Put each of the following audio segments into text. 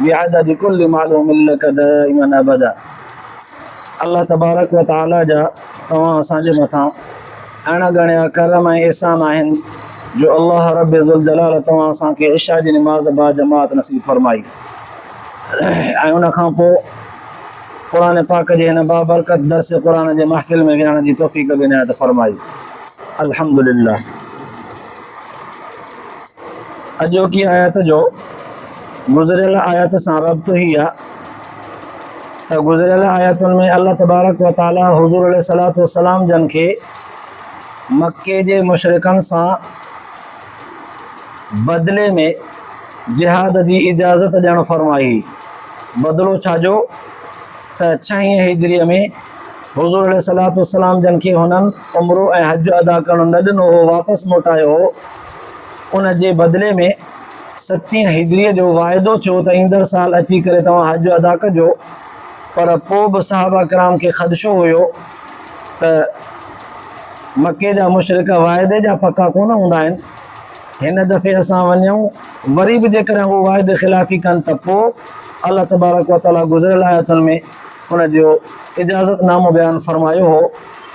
بعدد ڪل معلوم لک دائما ابدا الله تبارڪ و تعالي جا توهان اسان جي مٿان اڻ ڳڻيا ڪرم ۽ احسان آهن جو الله رب ذوالجلال توهان اسان کي عشاء جي نماز با جماعت نصيب فرمائي ۽ ان کان پوء قرآن پاڪ جي هن بابرڪت درس قرآن جي محفل ۾ ويهڻ جي توفيق به عنايت فرمائي الحمدلله اڄوڪي آيت جو گذريل آيت سان ربط هي آ ته گذريل آيتن ۾ الله تبارڪ و تعالي حضور عليه صلات والسلام جن کي مڪي جي مشرڪن سان بدلي ۾ جهاد جي اجازت ڏيڻ فرمائي بدلو ڇا جو ته ڇهين هجريء ۾ حضور عليه صلات والسلام جن کي هنن عمرو ۽ حج ادا ڪرڻ نه ڏنو هو واپس موٽايو هو ان جي بدلي ۾ ستين هجريء جو واعدو ٿيو ته ايندڙ سال اچي ڪري توهان حج ادا ڪجو پر پوء به صحابه ڪرام کي خدشو هيو ته مڪي جا مشرق واعدي جا پڪا ڪونه هوندا آهن هن دفعي اسان وڃون وري به جيڪڏهن هو واعدي خلافي ڪن ته پوء الله تبارڪ وتعاليٰ گذريل آيتن ۾ ان جو اجازت نامو بيان فرمايو هو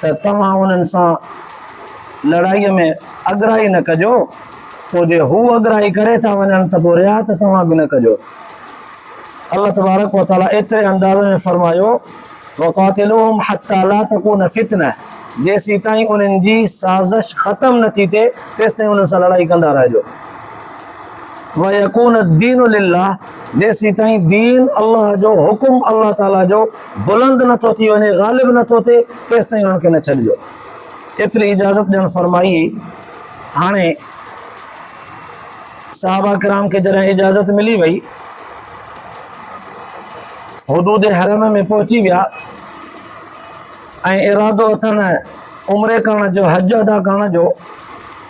ته توهان انهن سان لڙائيء ۾ اڳرائي نه ڪجو، پوء جي هو اڳرائي ڪري ٿا وڃن ته پوء رعايت توهان به نه ڪجو. الله تبارڪ وتعاليٰ ايتري انداز ۾ فرمايو، وقاتلوهم حتي لا تڪون فتنة جيسيتائين انهن جي سازش ختم نه ٿي ٿئي، تيستائين انهن سان لڙائي ڪندا رهجو. ويڪون الدين لله جيسيتائين دين الله جو حڪم الله تعالي جو بلند نه ٿو ٿي وڃي غالب نه ٿو ٿئي تيستائين انهن کي نه ڇڏجو ايتري اجازت ڏيڻ فرمائي هاڻي صحابه کرام کي جڏهن اجازت ملي وئي حدود حرم ۾ پهچي ويا ۽ ارادو اٿن عمري ڪرڻ جو حج ادا ڪرڻ جو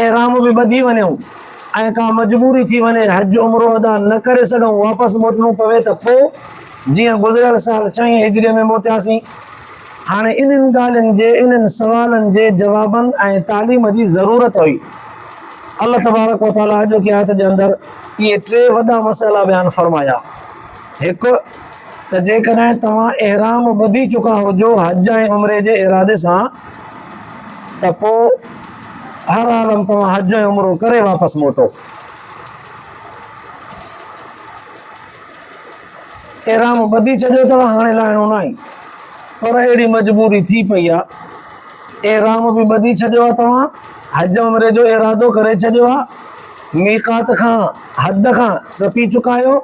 احرام به ٻڌي وڃون ۽ ڪا مجبوري ٿي وڃي حج عمرو ادا نه ڪري سگهون واپس موٽڻو پوي ته پو جيئن گذريل سال ڇهين هجري ۾ موٽياسين هاڻي انهن ڳالهين جي انهن سوالن جي جوابن ۽ تعليم جي ضرورت هئي الله تبارڪ وتعالي اڄوڪي آيت جي اندر اهي ٽي وڏا مسئلا بيان فرمايا هڪ ته جيڪڏهن توهان احرام ٻڌي چڪا هجو حج ۽ عمري جي ارادي سان ته پو هر حال ۾ توهان حج ۽ عمرو ڪري واپس موٽو. احرام ٻڌي ڇڏيو اٿو هاڻي لاهڻو ناهي پر اهڙي مجبوري ٿي پئي آ احرام به ٻڌي ڇڏيو آ توهان حج عمري جو ارادو ڪري ڇڏيو آ ميقات کان حد کان ٽپي چڪا آهيو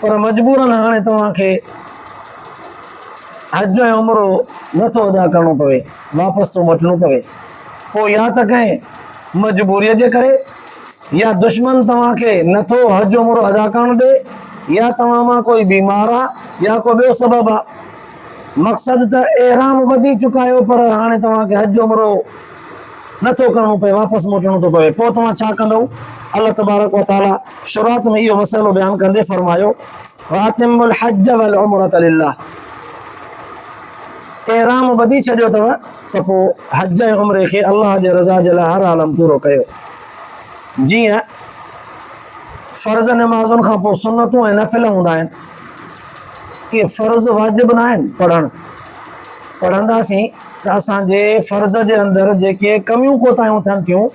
پر مجبورن هاڻي توهان کي حج ۽ عمرو نٿو ادا ڪرڻو پوي واپس ٿو موٽڻو پوي پوء يا ته ڪنهن مجبوريء جي ڪري يا دشمن توهان کي نه ٿو حج عمرو ادا ڪرڻ ڏي يا توهان مان ڪوئي بيمار آ يا ڪو ٻيو سبب آ مقصد ته احرام ٻڌي چڪايو پر هاڻي توهان کي حج عمرو نه ٿو ڪرڻو پئي واپس موٽڻو ٿو پوي پوء توهان ڇا ڪندو الله تبارڪ وتعالي شروعات ۾ اهو مسئلو بيان ڪندي فرمايو واتم الحج والعمره لله احرام ٻڌي ڇڏيو اٿو ته پوء حج ۽ عمري کي الله جي رضا جي لاء هر عالم پورو ڪيو. جيئن فرض نمازن کان پوء سنتون ۽ نفل هوندا آهن، اهي فرض واجب ناهن پڙهڻ. پڙهنداسين ته اسان جي فرض جي اندر جيڪي ڪميون ڪوتاهيون ٿين ٿيون،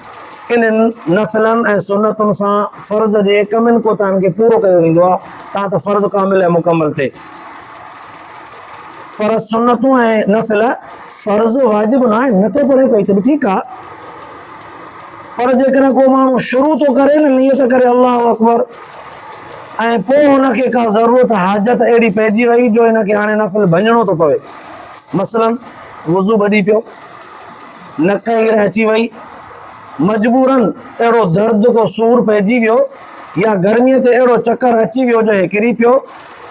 انهن نفلن ۽ سنتن سان فرض جي ڪمين ڪوتاهين کي پورو ڪيو ويندو آهي، تان ته فرض ڪامل ۽ مڪمل ٿئي. پر سنتون ۽ نفل فرض واجب نه آهن نه ٿو پڙهي ڪوئي ته به ٺيڪ آ پر جيڪڏهن ڪو ماڻهو شروع ٿو ڪري نه نيت ڪري الله اڪبر ۽ پوء هن کي ڪا ضرورت حاجت اهڙي پئجي وئي جو هن کي هاڻي نفل ڀڃڻو ٿو پوي مثلا وضو ٻڏي پيو نڪ هير اچي وئي مجبورن اهڙو درد ٿو سور پئجي ويو يا گرميء تي اهڙو چڪر اچي ويو جو هي ڪري پيو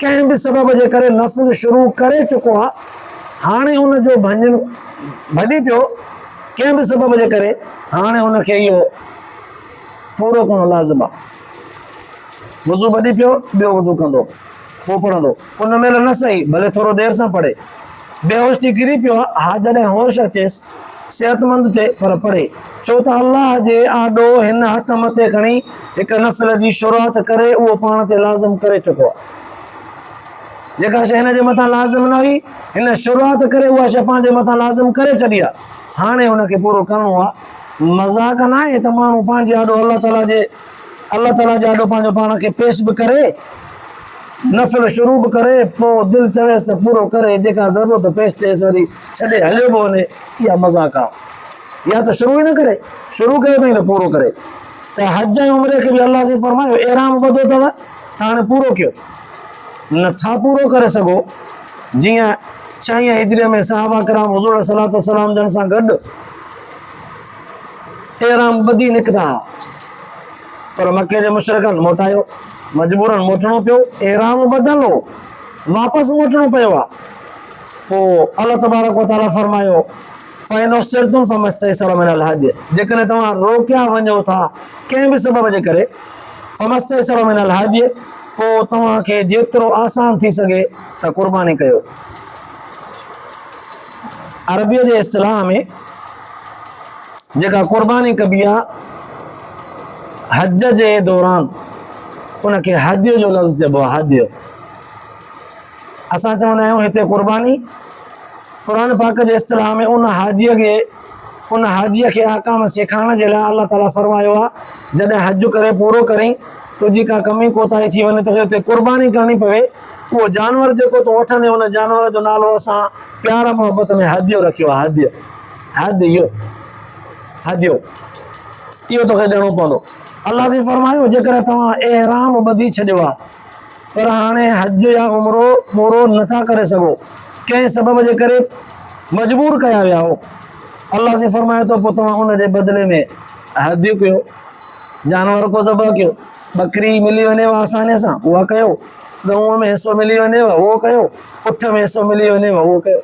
ڪنهن به سبب جي ڪري نفذ شروع ڪري چڪو آ هاڻي ان جو ڀڃڻ ڀڄي پيو ڪنهن به سبب جي ڪري هاڻي ان کي اهو پورو ڪرڻ لازم آ وضو ڀڄي پيو ٻيو وضو ڪندو پوء پڙهندو ان مهل نه سهي ڀلي ٿورو دير سان پڙهي بيهوش ٿي ڪري پيو ها جڏهن هوش اچيس صحتمند تي پر پڙهي ڇو ته الله جي آڏو هن هٿ مٿي کڻي هڪ نفل جي شروعات ڪري اهو پاڻ تي لازم ڪري چڪو آهي جيڪا شيء هن جي مٿان لازم نه هئي هن شروعات ڪري اها شيء پنهنجي مٿان لازم ڪري ڇڏي آهي هاڻي هن کي پورو ڪرڻو آهي مذاق نه آهي ته ماڻهو پنهنجي آڏو الله تعاليٰ جي الله تعاليٰ جي آڏو پنهنجو پاڻ کي پيش به ڪري، نفل شروع به ڪري، پوء دل چويس ته پورو ڪري، جيڪا ضرورت پيش ٿئيس وري ڇڏي هليو به وڃي، اها مذاق آ. يا ته شروع ئي نه ڪري، شروع ڪيو اٿئي ته پورو ڪري. ته حج ۽ عمري کي به الله سائين فرمايو، احرام ٻڌو اٿو ته هاڻي پورو ڪيو. نه ٿا پورو ڪري سگهو، جيئن ڇهين هجريء ۾ صحابه ڪرام حضور عليه الصلوة والسلام جن سان گڏ احرام ٻڌي نڪتا ها. پر مڪي جي مشرڪن موٽايو، مجبورن موٽڻو پيو، احرام ٻڌل هو، واپس موٽڻو پيو آهي، پوء الله تبارڪ و تعالي فرمايو، فإن احصرتم فما استيسر من الهدي، جيڪڏهن توهان روڪيا وڃو ٿا ڪنهن به سبب جي ڪري، فما استيسر من الهدي، پوء توهان کي جيترو آسان ٿي سگهي ته قرباني ڪيو. عربيء جي اصطلاح ۾ جيڪا قرباني ڪبي آ حج جي دوران ان کي هدي جو لفظ چئبو آ هدي اسان چوندا آهيون هتي قرباني قرآن پاڪ جي اصطلاح ۾ ان حاجي کي ان حاجي کي احکام سيکارڻ جي لاء الله تعالي فرمايو آ جڏهن حج ڪري پورو ڪرين تو جي ڪا ڪمي ڪوتاهي ٿي وڃي ته هتي قرباني ڪرڻي پوي اهو جانور جيڪو تو وٺندي ان جانور جو نالو اسان پيار محبت ۾ هدي رکيو آ هدي هد يو، حد يو، اهو توکي ڏيڻو پوندو. الله سين فرمايو، جيڪڏهن توهان احرام ٻڌي ڇڏيو آهي، پر هاڻي حج يا عمرو پورو نه ٿا ڪري سگهو، ڪنهن سبب جي ڪري مجبور ڪيا ويا آهو، الله سين فرمائي ٿو، پوء توهان ان جي بدلي ۾ هديو ڪيو، جانور ڪو ذبح ڪيو، ٻڪري ملي وڃيو آسانيء سان، اها ڪيو، ڳئونء ۾ حصو ملي وڃيو، اهو ڪيو، اٺ ۾ حصو ملي وڃيو، اهو ڪيو.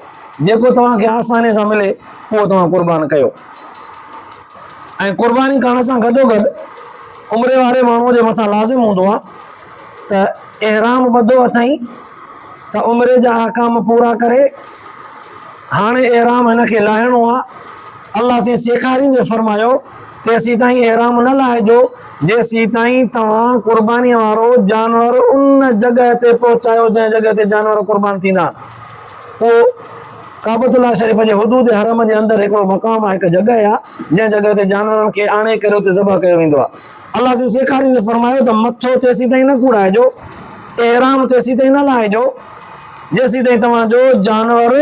جيڪو توهان کي آسانيء سان ملي، اهو توهان قربان ڪيو. ۽ قرباني ڪرڻ سان گڏوگڏ عمري واري ماڻهوء جي مٿان لازم هوندو آهي ته احرام ٻڌو اٿئي ته عمري جا احڪام پورا ڪري، هاڻي احرام هن کي لاهڻو آهي. الله سين سيکاريندي فرمايو، تيسيتائين احرام نه لاهجو، جيسيتائين توهان قربانيء وارو جانور ان جڳهه تي پهچايو جنهن جڳهه تي جانور قربان ٿيندا آهن. اهو ڪعبة الله شريف جي حدود حرم جي اندر هڪڙو مقام آهي، هڪ جڳهه آهي، جنهن جڳهه تي جانورن کي آڻي ڪري اتي ذبح ڪيو ويندو آهي. الله جي سيکاري ۾ فرمايو ته مٿو تيسيتائين نه ڪوڙائجو، احرام تيسيتائين نه لاهيجو، جيسيتائين توهان جو جانور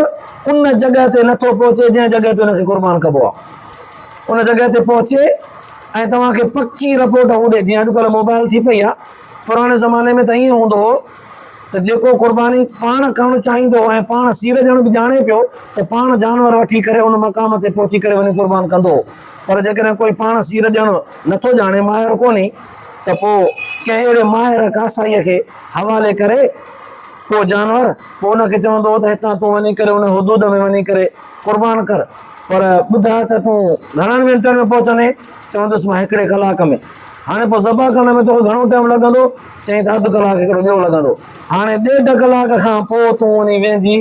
ان جڳهه تي نٿو پهچي جنهن جڳهه تي ان کي قربان ڪبو آهي. ان جڳهه تي پهچي ۽ توهان کي پڪي رپورٽ هو ڏئي، جيئن اڄڪلهه موبائل ٿي پئي آهي، پراڻي زماني ۾ ته ائين هوندو هو، ته جيڪو قرباني پاڻ ڪرڻ چاهيندو هو ۽ پاڻ سير ڏيڻ به ڄاڻي پيو ته پاڻ جانور وٺي ڪري ان مقام تي پهچي ڪري وڃي قربان ڪندو هو پر جيڪڏهن ڪوئي پاڻ سير ڏيڻ نه ٿو ڄاڻي ماهر ڪونهي ته پوء ڪنهن اهڙي ماهر ڪاسائيء کي حوالي ڪري ڪو جانور پوء ان کي چوندو هو ته هتان تون وڃي ڪري ان حدود ۾ وڃي ڪري قربان ڪر پر ٻڌاء ته تون گهڻن منٽن ۾ پهچندين چوندس مان هڪڙي ڪلاڪ ۾ هاڻي پوء ذبح ڪرڻ ۾ توکي گهڻو ٽائيم لڳندو چيائين ته اڌ ڪلاڪ هڪڙو ٻيو لڳندو. هاڻي ڏيڍ ڪلاڪ کان پوء تون وڃي ويهجي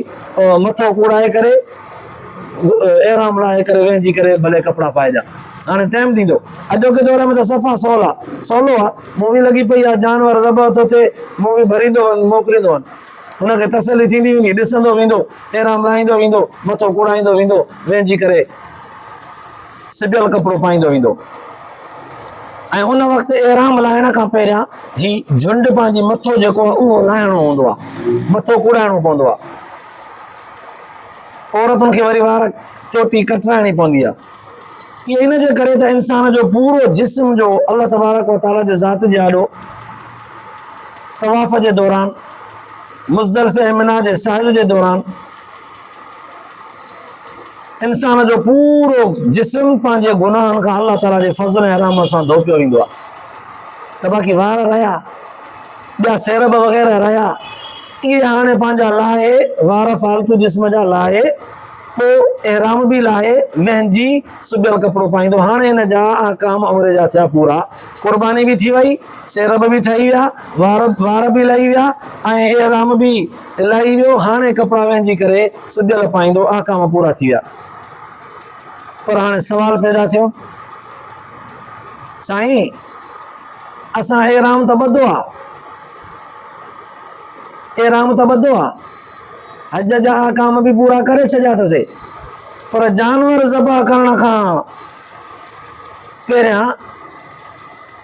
مٿو ڪوڙائي ڪري احرام لاهي ڪري ويهجي ڪري ڀلي ڪپڙا پائجان. هاڻي ٽائيم ڏيندو. اڄوڪي دور ۾ ته صفا سولا سولو آ. مووي لڳي پئي آ، جانور ذبح ٿو ٿئي، مووي ڀريندو وڃ موڪليندو وڃ. هن کي تسلي ٿيندي ويندي، ڏسندو ويندو، احرام لاهيندو ويندو، مٿو ڪوڙائيندو ويندو، ويهجي ڪري. سبيل ڪپڙو پائيندو ايندو ۽ ان وقت احرام لاهڻ کان پهريان هي جھنڊ پنهنجي مٿو جيڪو آهي اهو لاهڻو هوندو آهي مٿو ڪوڙائڻو پوندو آهي عورتن کي وري وار چوٽي ڪٽرائڻي پوندي آهي اهي ان جي ڪري ته انسان جو پورو جسم جو الله تبارڪ و تعاليٰ جي ذات جي آڏو طواف جي دوران مزدلفه ۽ منا جي ساحل جي دوران انسان جو پورو جسم پنهنجي گناهن کان الله تعاليٰ جي فضل ۽ رحمت سان ڌوپيو ويندو آهي ته باقي وار رهيا ٻيا سيرب وغيره رهيا اهي هاڻي پنهنجا لاهي وار فالتو جسم جا لاهي پوء احرام به لاهي وهنجي سبيل ڪپڙو پائيندو هاڻي هن جا احڪام عمر جا ٿيا پورا قرباني به ٿي وئي سيرب به ٺهي ويا وار وار به لهي ويا ۽ احرام به الاهي ويو هاڻي ڪپڙا وهنجي ڪري سگهيل پائيندو احڪام پورا ٿي ويا پر هاڻي سوال پيدا ٿيو سائين اسان احرام ته ٻڌو آ احرام ته ٻڌو آ حج جا احڪام به پورا ڪري ڇڏيا اٿسي پر جانور ذبح ڪرڻ کان پهريان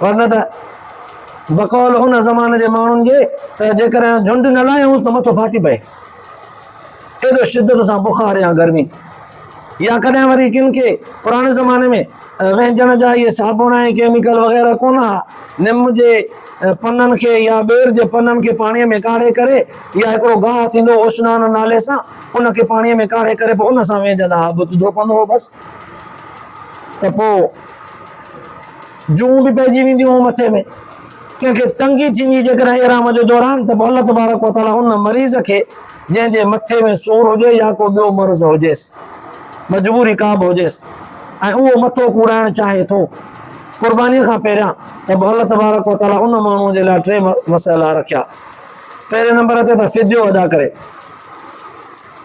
ورنه ته بقول ان زماني جي ماڻهن جي ته جيڪڏهن جهنڊ نه لاهيونس ته مٿو ڦاٽي پئي. ايڏو شدت سان بخار يا گرمي يا ڪڏهن وري ڪن کي پراڻي زماني ۾ وهنجڻ جا اهي صابڻ ۽ ڪيميڪل وغيره ڪونه ها، نم جي پنن کي يا ٻير جي پنن کي پاڻي ۾ ڪاڙهي ڪري يا هڪڙو گاهه ٿيندو اوشنان نالي سان ان کي پاڻي ۾ ڪاڙهي ڪري پوء ان سان وهنجندا ها، بت ڌوپندو هو بس ته پوء. جون به پئجي وينديون هون مٿي ۾ ڪنهن کي تنگي ٿيندي جيڪڏهن احرام جي دوران ته پوء الله تبارڪ و تعالي ان مريض کي جنهن جي مٿي ۾ سور هجي يا ڪو ٻيو مرض هجيس مجبوري ڪا به هجيس ۽ اهو مٿو ڪوڙائڻ چاهي ٿو قرباني کان پهريان ته پوء الله تبارڪ و تعالي ان ماڻهو جي لاء ٽي مسئلا رکيا پهرين نمبر تي ته فديو ادا ڪري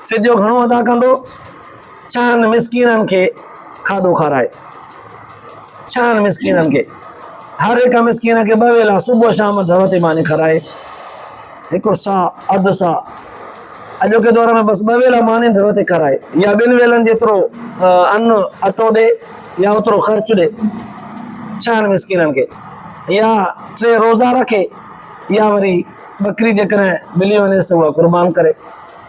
فديو گهڻو ادا ڪندو ڇهن مسڪينن کي کاڌو کارائي. ڇهن مسڪينن کي هر هڪ مسڪين کي ٻه ويلا صبح شام ڌر تي ماني کارائي هڪ سا اڌ سا اڄوڪي دور ۾ بس ٻه ويلا ماني ڌر تي کارائي يا ٻن ويلن جيترو ان اٽو ڏي يا اوترو خرچ ڏي ڇهن مسڪينن کي يا ٽي روزا رکي يا وري ٻڪري جيڪڏهن ملي وڃيس ته اها قربان ڪري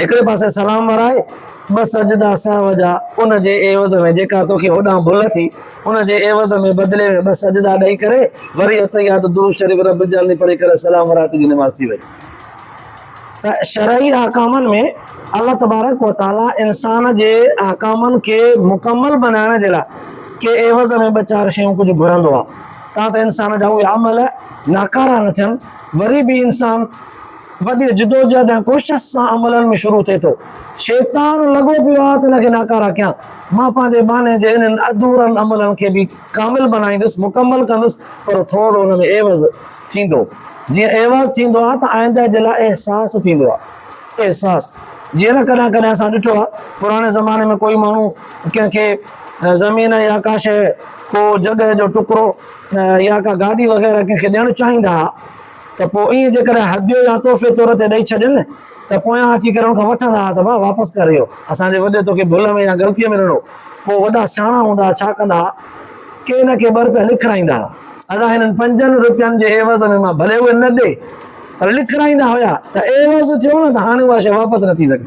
هڪڙي پاسي سلام ورائي، ٻه سجدا سهو جا، ان جي عيوض ۾ جيڪا توکي هوڏانهن ڀل ٿي، ان جي عيوض ۾ بدلي ۾ ٻه سجدا ڏئي ڪري، وري التحيات درود شريف رب اجعلني پڙهي ڪري سلام ورائي تنهنجي نماز ٿي وڃي. ته شرعي احڪامن ۾ الله تبارڪ و تعالي انسان جي احڪامن کي مڪمل بنائڻ جي لاء کي عيوض ۾ ٻه چار شيون ڪجهه گهرندو آهي، تان ته انسان جا اهي عمل ناڪارا نه ٿين، وري به انسان وڏي جدوجهد ۽ ڪوشش سان عملن ۾ شروع ٿئي ٿو. شيطان لڳو پيو آهي ته ان کي ناڪاره ڪيان. مان پنهنجي ٻانهي جي انهن اڌورن عملن کي به ڪامل بنائيندس، مڪمل ڪندس، پر ٿورڙو ان ۾ عيوض ٿيندو. جيئن عيوض ٿيندو آهي ته آئنده جي لاء احساس ٿيندو آهي. احساس. جيئن نه ڪڏهن ڪڏهن اسان ڏٺو آهي پراڻي زماني ۾ ڪوئي ماڻهو ڪنهن کي زمين يا ڪا شيء، ڪو جڳهه جو ٽڪرو يا ڪا گاڏي وغيره ڪنهن کي ڏيڻ چاهيندا ها. ته پوء ائين جيڪڏهن هديو يا تحفي طور تي ڏئي ڇڏين ته پويان اچي ڪري ان کان وٺندا ها ته ڀاء واپس ڪر اهو اسان جي وڏي توکي ڀل ۾ يا غلطيء ۾ ڏنو. پوء وڏا سياڻا هوندا ها ڇا ڪندا ها ڪي نه ڪي ٻر پيا لکرائيندا ها. ادا هنن پنجن روپين جي عيوض ۾ مان ڀلي اهي نه ڏي پر لکرائيندا هيا ته عيوض ٿيو نه ته هاڻي اها شيء واپس نه ٿي سگهي.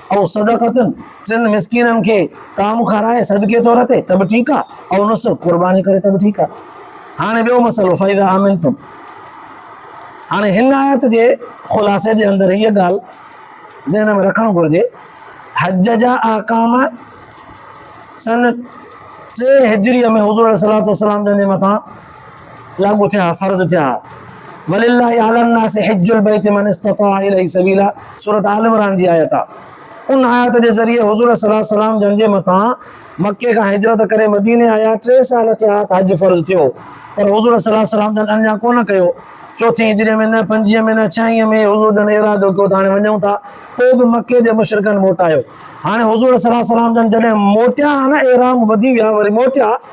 او صدقتن، ٽن مسڪينن کي طعام کارائي صدقي طور تي ته به ٺيڪ آ، او نسڪ، قرباني ڪري ته به ٺيڪ آ. هاڻي ٻيو مسئلو فإذا امنتم. هاڻي هن آيت جي خلاصي جي اندر هيء ڳالهه ذهن ۾ رکڻ گهرجي، حج جا احڪام سن ٽي هجريء ۾ حضور عليه الصلوة والسلام جن جي مٿان لاڳو ٿيا ها، فرض ٿيا ها. ولله علی الناس حج البيت من استطاع اليه سبيلا سورة آل عمران جي آيت آ. ان آيت جي ذريعي حضور صلي الله عليه وسلم جن جي مٿان مڪي کان هجرت ڪري مديني آيا ٽي سال ٿيا ها ته حج فرض ٿيو پر حضور صلي الله عليه وسلم جن اڃا ڪونه ڪيو. چوٿين هجري ۾ نه پنجين ۾ نه ڇهين ۾ حضور جن ارادو ڪيو ته هاڻي وڃون ٿا. پوء به مڪي جي مشرڪن موٽايو. هاڻي حضور صلي الله عليه وسلم جن جڏهن موٽيا ها نه احرام ٻڌي ويا وري موٽيا.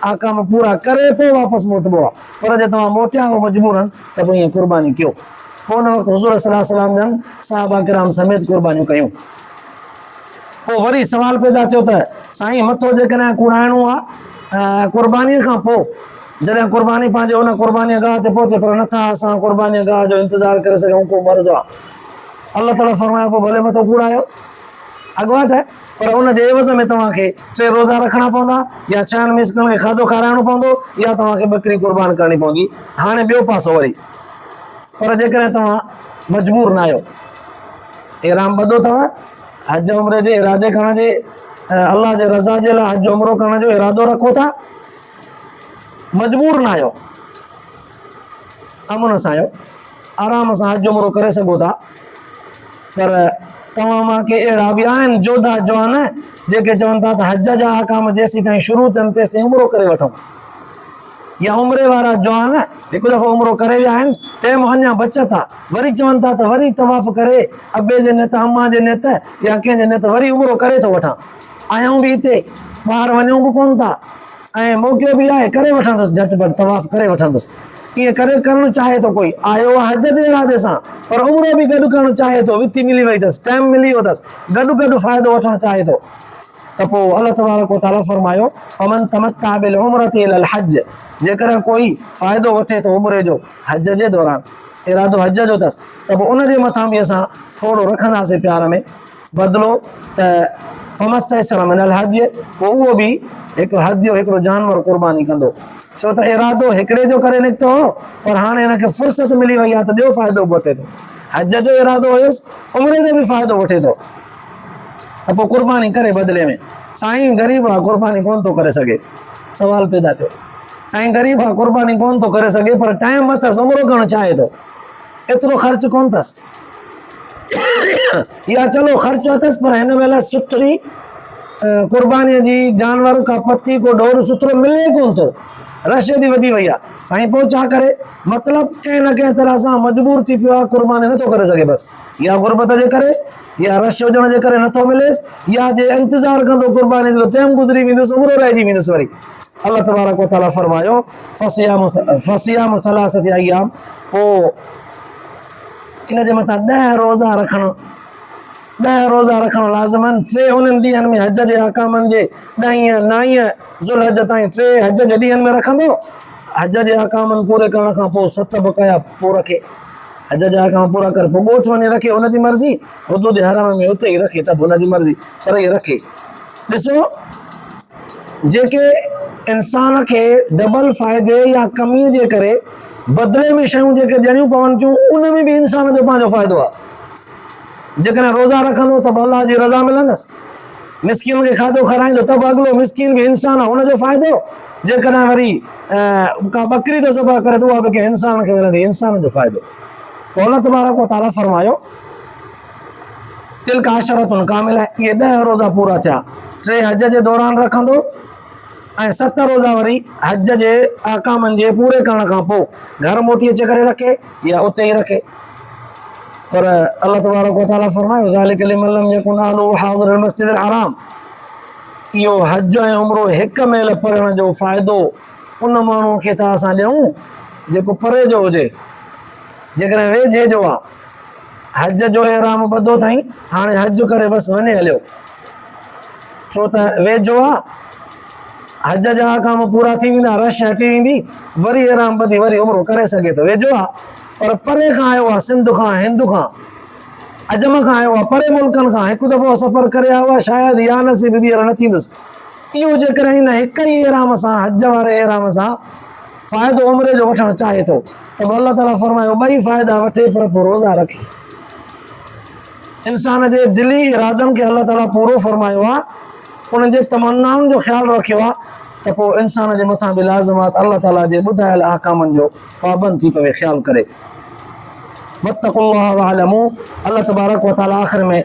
احڪام پورا ڪري پوء واپس موٽبو آهي، پر جي توهان موٽيا آهو مجبوراً ته پوء ائين قرباني ڪيو. پوء ان وقت حضور صلي الله عليه وسلم جن صحابه ڪرام سميت قربانيون ڪيون. پوء وري سوال پيدا ٿيو ته سائين مٿو جيڪڏهن ڪوڙائڻو آهي ۽ قربانيء کان پوء جڏهن قرباني پنهنجي ان قربانيء گاهه تي پهچي پر نٿا اسان قربانيء گاهه جو انتظار ڪري سگهون ڪو مرض آهي؟ الله تعالي فرمايو پوء ڀلي مٿو ڪوڙايو اڳواٽ. پر ان جي عيوض ۾ توهان کي ٽي روزا رکڻا پوندا يا ڇهن مسڪنن کي کاڌو کارائڻو پوندو يا توهان کي ٻڪري قربان ڪرڻي پوندي. هاڻي ٻيو پاسو وري پر جيڪڏهن توهان مجبور ناهيو، احرام ٻڌو اٿو، حج عمري جي ارادي کان جي الله جي رضا جي لاء حج عمرو ڪرڻ جو ارادو رکو ٿا، مجبور ناهيو، امن سان آهيو آرام سان حج عمرو ڪري سگهو ٿا پر توهان مان ڪي اهڙا به آهن جوڌا جوان جيڪي چون ٿا ته حج جا احڪام جيسين تائين شروع ٿين تيسين عمرو ڪري وٺون يا عمري وارا جوان هڪ دفعو عمرو ڪري ويا آهن ٽيم اڃا بچت ٿا وري چون ٿا ته وري طواف ڪري ابي جي نيت اما جي نيت يا ڪنهن جي نيت وري عمرو ڪري ٿو وٺان آيون به هتي، ٻاهر وڃون به ڪونه ٿا ۽ موقعو به آهي ڪري وٺندس جهٽ پٽ طواف ڪري وٺندس. ائين ڪري ڪرڻ چاهي ٿو ڪوئي آيو آهي حج جي ارادي سان پر عمرو به گڏ ڪرڻ چاهي ٿو وٿي ملي وئي اٿس ٽائيم ملي ويو اٿس گڏ گڏ فائدو وٺڻ چاهي ٿو ته پوء الله تبارڪ وتعالي فرمايو فمن تمتع بالعمره الى الحج جيڪڏهن ڪوئي فائدو وٺي ٿو عمري جو حج جي دوران ارادو حج جو اٿس ته پوء ان جي مٿان به اسان ٿورو رکنداسين پيار ۾ بدلو ته فمستيسر من الهدي پوء اهو به هڪ هدي جو هڪڙو جانور قرباني ڪندو ڇو ته ارادو هڪڙي جو ڪري نڪتو هو پر هاڻي هن کي فرصت ملي وئي آهي ته ٻيو فائدو به وٺي ٿو حج جو ارادو هيس عمري جو به فائدو وٺي ٿو ته پوء قرباني ڪري بدلي ۾ سائين غريب آ قرباني ڪون ٿو ڪري سگهي سوال پيدا ٿيو سائين غريب آ قرباني ڪون ٿو ڪري سگهي پر ٽائيم اٿس عمرو ڪرڻ چاهي ٿو ايترو خرچ ڪون اٿس يا چلو خرچ اٿس پر هن مهل سٺري قرباني جي جانور کا پتي کو ڏور سٿرو ملي ڪون ٿو رش ايڏي وڌي وئي آ سائين پو ڇا ڪري مطلب ڪنهن نه ڪنهن طرح سان مجبور ٿي پيو آ قرباني نٿو ڪري سگهي بس يا غربت جي ڪري يا رش هجڻ جي ڪري نٿو مليس يا جي انتظار ڪندو قرباني جو ٽيم گذري ويندس عمر رهجي ويندس وري الله تبارڪ وتعالى فرمايو فصيام فصيام ثلاثه ايام پو ان جي مٿان ڏهه روزا رکڻ، ڏهه روزا رکڻ لازم آهن، ٽي انهن ڏينهن ۾ حج جي احڪامن جي ڏهين، نائين ذوالحج تائين ٽي حج جي ڏينهن ۾ رکندو، حج جي احڪامن پوري ڪرڻ کان پوء ست به ڪيا پوء رکي، حج جا احڪام پورا ڪري پوء ڳوٺ وڃي رکي ان جي مرضي، حدود حرم ۾ اتي ئي رکي ته به ان جي مرضي پر هي رکي، ڏسو! جيڪي انسان کي ڊبل فائدي يا ڪمي جي ڪري بدلي ۾ شيون جيڪي ڏيڻيون پون ٿيون ان ۾ به انسان جو پنهنجو فائدو آهي جيڪڏهن روزا رکندو ته به الله جي رضا ملندس مسڪين کي کاڌو کارائيندو ته به اڳلو مسڪين به انسان هن جو فائدو جيڪڏهن وري ڪا ٻڪري ته ذبح ڪري ته اها به ڪنهن انسان کي ملندي انسان جو فائدو قول تبارڪ و تعالیٰ فرمايو تلڪ عشرة ڪاملة اهي ڏهه روزا پورا ٿيا ٽي حج جي دوران رکندو ۽ ست روزا وري حج جي احڪامن جي پوري ڪرڻ کان پوء گهر موٽي اچي ڪري رکي يا اتي ئي رکي پر الله تبارڪ وتعالي فرمايو ذالک لمن لم يكن اهله حاضر المسجد الحرام اهو حج ۽ عمرو هڪ ميل پڙهڻ جو فائدو ان ماڻهو کي ٿا اسان ڏيون جيڪو پري جو هجي جيڪڏهن ويجهي جو آ حج جو احرام ٻڌو ٿائين هاڻي حج ڪري بس وڃي هليو ڇو ته ويجهو آ حج جا احڪام پورا ٿي ويندا رش هٽي ويندي وري احرام ٻڌي وري عمرو ڪري سگهي ٿو ويجهو آ پر پري کان آيو آ سنڌ کان هند کان عجم کان آيو آ پري ملڪن کان هڪ دفعو سفر ڪري آيو آ شايد يا نصيب ٻيهر نه ٿيندس اهو جيڪڏهن هن هڪ ئي احرام سان حج واري احرام سان فائدو عمري جو وٺڻ چاهي ٿو ته پوء الله تعالي فرمايو ٻئي فائدا وٺي پر پوء روزا رکي انسان جي دلي ارادن کي الله تعالي پورو فرمايو آ انهن جي تمنائن جو خيال رکيو آ ته پوء انسان جي مٿان به لازمات الله تعالي جي ٻڌايل احڪامن جو پابند ٿي پوي خيال ڪري وتق الله وعلم الله تبارڪ وتعالى آخر ۾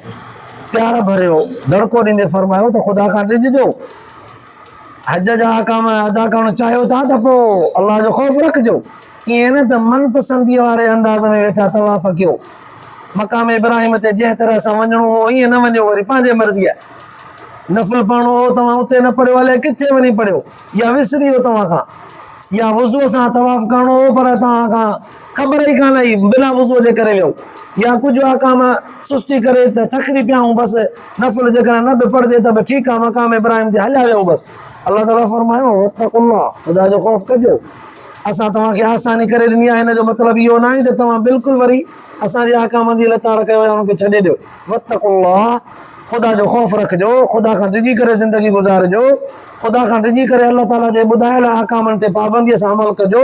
پيار ڀريو دڙڪو ڏيندي فرمايو ته خدا کان ڊڄجو حج جا احڪام ادا ڪرڻ چاهيو ٿا ته پوء الله جو خوف رکجو، ائين نه ته من پسنديء واري انداز ۾ ويٺا طواف ڪيو. مقام ابراهيم تي جنهن طرح سان وڃڻو هو ائين نه وڃو وري پنهنجي مرضيء. نفل پڙهڻو هو توهان اتي نه پڙهيو الئه ڪٿي وڃي پڙهيو يا وسري ويو توهان کان يا وضوء سان طواف ڪرڻو هو پر توهان کان خبر ئي ڪانه هئي بنا وضوء جي ڪري ويهون يا ڪجهه آقام سستي ڪري ته ٿڪجي پيا آهيون بس نفل جيڪڏهن نه به پڙهجي ته به ٺيڪ آهي مقام ابراهيم تي هليا ويهون بس الله تعالٰي فرمايو واتقوا الله خدا جو خوف ڪجو اسان توهان کي آساني ڪري ڏني آهي هن جو مطلب اهو نه آهي ته توهان بلڪل وري اسان جي آقام جي لتاڙ ڪيو يا ان کي ڇڏي ڏيو واتقوا الله خدا جو خوف رکجو خدا کان ڊڄي ڪري زندگي گذارجو خدا کان ڊڄي ڪري الله تعالٰي جي ٻڌايل آقامن تي پابنديء سان عمل ڪجو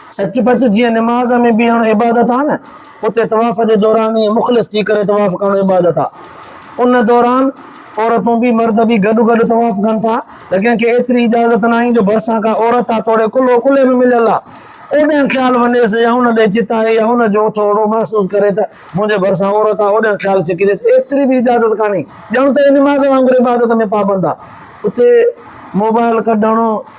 سچ پچ جيئن نماز ۾ بيهڻ عبادت آهي نه اتي طواف جي دوران ائين مخلص ٿي ڪري طواف ڪرڻ عبادت آهي ان دوران عورتون به مرد به گڏ گڏ طواف ڪن ٿا ته ڪنهن کي ايتري اجازت نه آهي جو ڀرسان ڪا عورت آهي توڙي ڪلهو ڪلهي ۾ مليل آهي اوڏانهن خيال وڃيس يا ان ڏي چتائي يا ان جو ٿورو محسوس ڪري ته منهنجي ڀرسان عورت آهي اوڏانهن خيال چڪينديس ايتري به اجازت ڪانهي ڄڻ ته نماز وانگر عبادت ۾ پابند آهي اتي موبائل ڪڍڻ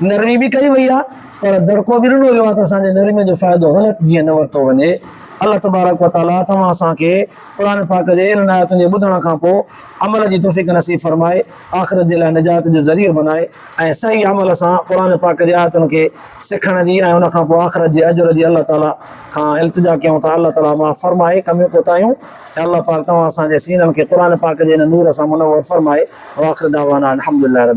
نرمي به ڪئي وئي آهي پر دڙڪو به ڏنو ويو آهي ته اسان جي نرمي جو فائدو غلط جيئن نه ورتو وڃي. الله تبارڪ و تعاليٰ توهان اسان کي قرآن پاڪ جي انهن آيتن جي ٻڌڻ کان پوء عمل جي توفيق نصيب فرمائي، آخرت جي لاء نجات جو ذريعو بنائي ۽ صحيح عمل سان قرآن پاڪ جي آيتن کي سکڻ جي ۽ ان کان پوء آخرت جي اجر جي الله تعاليٰ کان التجا ڪيون ٿا الله تعاليٰ معاف فرمائي ڪميون ڪوتاهيون اي الله پاڪ توهان اسان جي سينن کي قرآن پاڪ جي هن نور سان منور فرمائي واخر دعوانا ان الحمدلله رب.